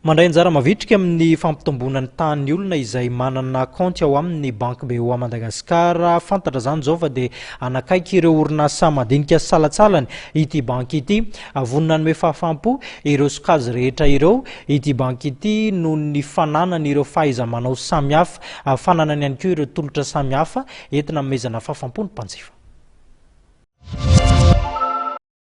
Mandray anjara mavitrika amin'ny fampitomboana ny tahan' ny olona izay manana kaonty ao amin' ny Banky BOA Madagascar. Fantatra izany izao fa dia hanakaiky ireo orinasa madinika salatsalany ity banky ity. Vonona hanome fahafaham-po ireo sokajy rehetra ireo ity banky ity noho ny fananany ireo fahaiza-manao samihafa. Fananany ihany koa ireo tolotra samihafa entina hanomezana fahafaham-po ny mpanjifa.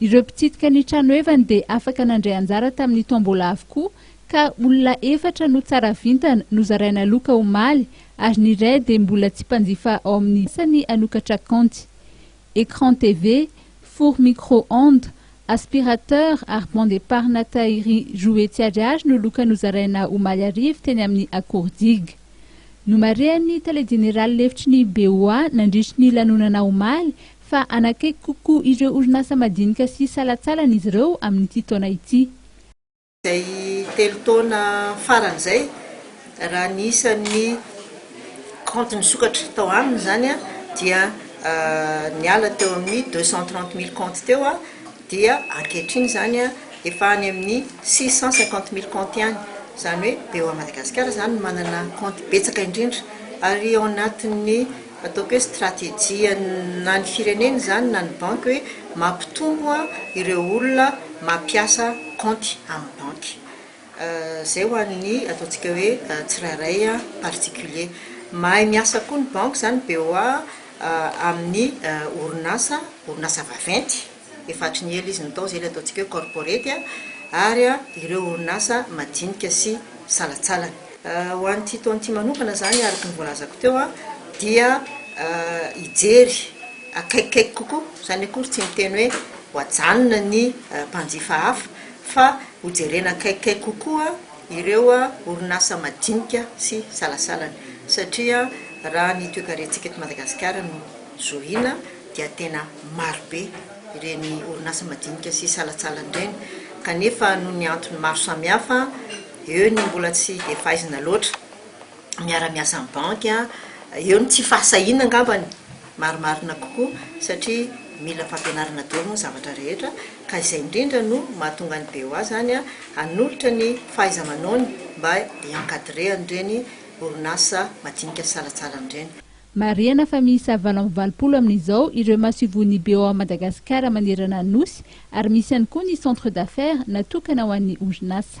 Ireo mpitsidika ny tranohevany dia afaka nandray anjara tamin'ny tombola avokoa ka olona efatra no tsara vintana nozaraina loka omaly ary ny iray dia mbola tsy mpanjifa ao amin'ny asany hanokatra kaonty. Écran TV, four micro-ondes, aspirateur ary banc d'épargne Tahiry roa hetsy ariary no loka nozaraina omaly hariva teny amin'ny Akordiga. Nomarihan'ny tale jeneraly lefitry ny BOA nandritry ny lanonana omaly fa hanakaiky kokoa ireo orinasa madinika sy salantsalany izy ireo amin'ity taona ity. Izay telo taona farany izay, raha ny isan'ny kaonty nisokatra tao aminy izany dia niala teo amin'ny deux cent trente mille kaonty teo dia ankehitriny izany efa any amin'ny six cent cinquante mille kaonty ihany. Izany hoe, BOA Madagasikara izany no manana kaonty betsaka indrindra ary ao anatin'ny. Ataoko hoe stratégie na ny firenena izany na ny banky hoe mampitombo ireo olona mampiasa kaonty amin'ny banky. Izay ho an'ny ataontsika hoe tsirairay particulier. Mahay miasa koa ny banky izany BOA amin'ny orinasa, orinasa vaventy. efa hatry ny ela izy no tao, izay ilay ataontsika hoe corporate, ary ireo orinasa madinika sy salantsalany. Ho an'ity taona ity manokana izany, araka ny voalazako teo, dia hijery akaikikaiky kokoa, izany akory tsy miteny hoe ho ajanona ny mpanjifa hafa, fa hojerena akaikikaiky kokoa ireo orinasa madinika sy salasalany, satria raha ny toekarentsika eto Madagasikara no zohina, dia tena marobe ireny orinasa madinika sy salantsalany ireny kanefa noho ny antony maro samihafa eo ny mbola tsy dia faizina loatra miara-miasa amin'ny banky eo ny tsy fahasahiana angambany marimarina kokoa satria mila fampianarana daholo moa ny zavatra rehetra ka izay indrindra no mahatonga ny BOA izany hanolotra ny fahaiza-manaony mba hi-encadrer an'ireny orinasa madinika sy salantsalany ireny. Marihana fa miisa valo amby valopolo amin'izao ireo masoivohon'ny BOA Madagasikara manerana ny Nosy ary misy ihany koa ny centre d'affaires natokana ho an'ny orinasa.